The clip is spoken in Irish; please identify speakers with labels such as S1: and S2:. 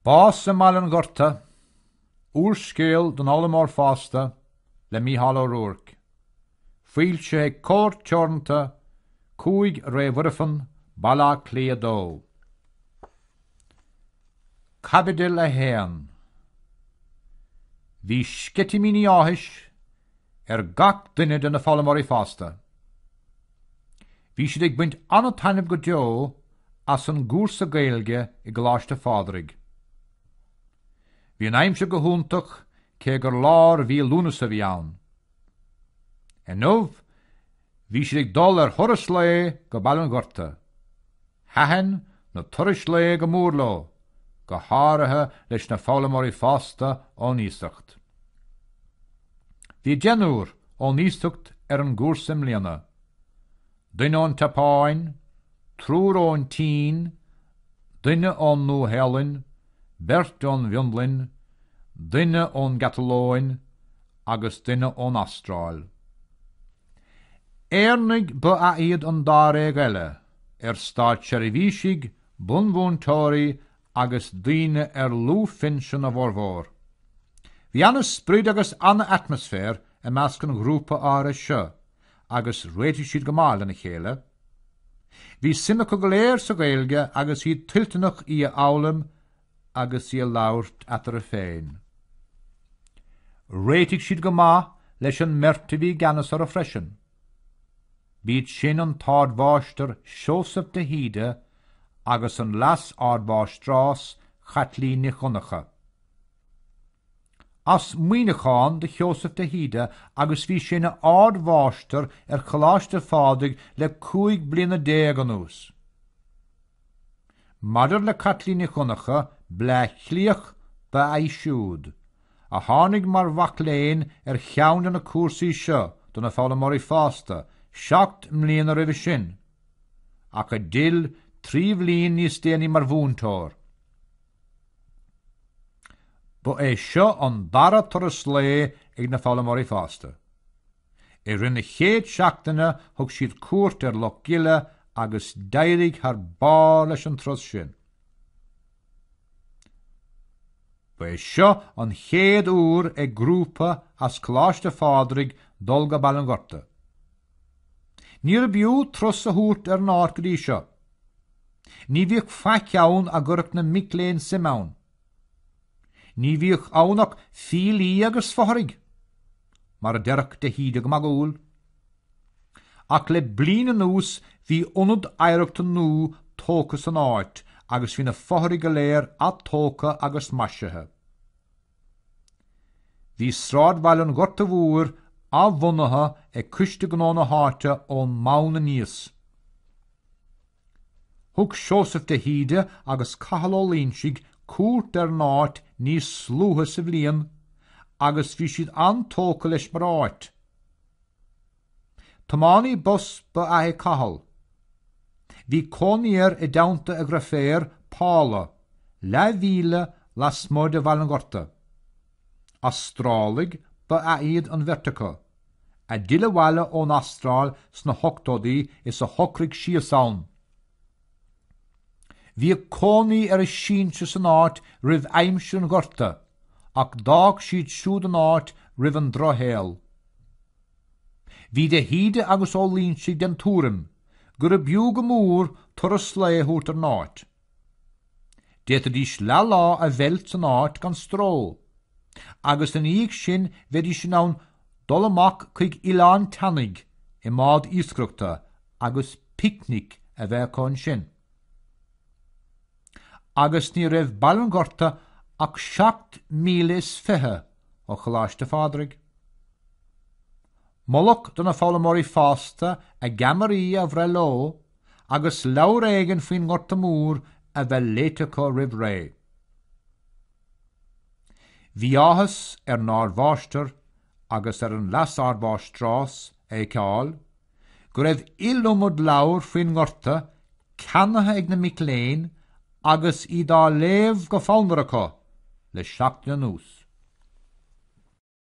S1: Bás i mBaile an Ghorta, Úrscéal don fhoghlaimeoir fásta le Mícheál Ó Ruairc, foilsithe ag Comhar Teoranta 5 Rae Mhuirfean, Baile Átha Cliath 2. Caibidil 1. Bhí sceitimíní áthais ar gach duine de na foghlaimeoirí fásta. Bhí siad ag baint an-taitneamh go deo as an gcúrsa Gaeilge i gColáiste Phádraig. Bhí an aimsir go hiontach cé gur lár mhí Lúnasa a bhí ann. Inniu, Bhí siad ag dul ar thuras lae go Baile an Ghorta. Thaitin na turais lae go mór leo, go háirithe leis na foghlaimeoirí fásta ón iasacht. Bhí deichniúr ón iasacht ar an gcúrsa i mbliana, duine ón tSeapáin, triúr ón tSín, duine ón Nua-Shéalainn, beirt ón bhFionlainn, duine ón gCatalóin, agus duine ón Astráil. Éireannaigh ba ea iad an dáréag eile, ar státseirbhísigh iad, bunmhúinteoirí agus daoine ar luathphinsean a bhformhór. Bhí an-sprid agus an-atmaisféar i measc an ghrúpa áirithe seo agus réitigh siad go maith lena chéile. Bhí suim acu go léir sa Ghaeilge agus iad toilteanach í a fhoghlaim agus í a labhairt eatarthu féin. Réitigh siad go maith leis an mbeirt a bhí i gceannas orthu freisin, b'iad sin an tArdmháistir Seosamh de hÍde agus an Leas-Ardmháistreás Caitlín Nic Dhonncha. as Muineachán do Sheosamh de hÍde agus bhí sé ina ardmháistir ar Choláiste Phádraig le cúig bliana déag anuas. Maidir le Caitlín Nic Dhonncha, Bleá Cliathach ab ea í siúd, a tháinig mar mhac léinn ar cheann de na cúrsaí seo do na foghlaimeoirí fásta seacht mbliana roimhe sin, ach a d'fhill trí bhliain níos déanaí mar mhúinteoir. Ba é seo an dara turas lae ag na foghlaimeoirí fásta. I rith na chéad seachtaine thug siad cuairt ar Loch Gile agus d'éirigh thar barr leis an turas sin. Ba é seo an chéad uair ag grúpa as Coláiste Phádraig dul go Baile an Ghorta. Níorbh fhiú turas a thabhairt ar an áit go dtí seo. Ní bhíodh faic ann a gcuirfeadh na mic léinn suim ann. Ní bhíodh ann ach fiailí agus fothraigh, mar a deirfeadh de hÍde go magúil. Ach le bliain anuas bhí ionad oidhreachta nua tógtha san áit agus bhí na fothraigh go léir atógtha agus maisithe. Bhí sráidbhaile an Ghorta Mhóir athbhunaithe ag Coiste Gnó na háite ón mbonn aníos. Thug Seosamh de hÍde agus Cathal Ó Loingsigh cuairt ar an áit níos luaithe sa bhliain agus bhí siad an-tógtha leis mar áit. Tiománaí bus ba ea é Cathal. Bhí cónaí air i dteannta a dhriféar, Paula, leathmhíle lasmuigh de Bhaile an Ghorta. Astrálaigh ba ea iad an bheirt acu, a d'fhill abhaile ón Astráil sna hochtóidí is a shocraigh síos ann. Bhíodh cónaí ar a sinsir san áit roimh aimsir an Ghorta ach d'fhág siad siúd an áit roimh an Drochshaol. Bhí de hÍde agus Ó Loingsigh den tuairim gurb fhiú go mór turas lae a thabhairt ar an áit. D'fhéadfaidís leathlá a mheilt san áit gan stró agus ina dhiaidh sin bheidís in ann dul amach chuig Oileán tSeanaigh i mbád iascaireachta agus picnic a bheith acu ansin. Agus ní raibh Baile an Ghorta ach seacht míle is fiche ó Choláiste Phádraig. Moladh do na foghlaimeoirí fásta a gceamaraí a bhreith leo agus leabhar éigin faoin nGorta Mór a bheith léite acu roimh ré. Bhí áthas ar an ardmháistir agus ar an leasardmháistreás a fheiceáil go raibh iliomad leabhar faoin nGorta ceannaithe ag na mic léinn agus iad á léamh go fonnmhar acu le seachtain anuas.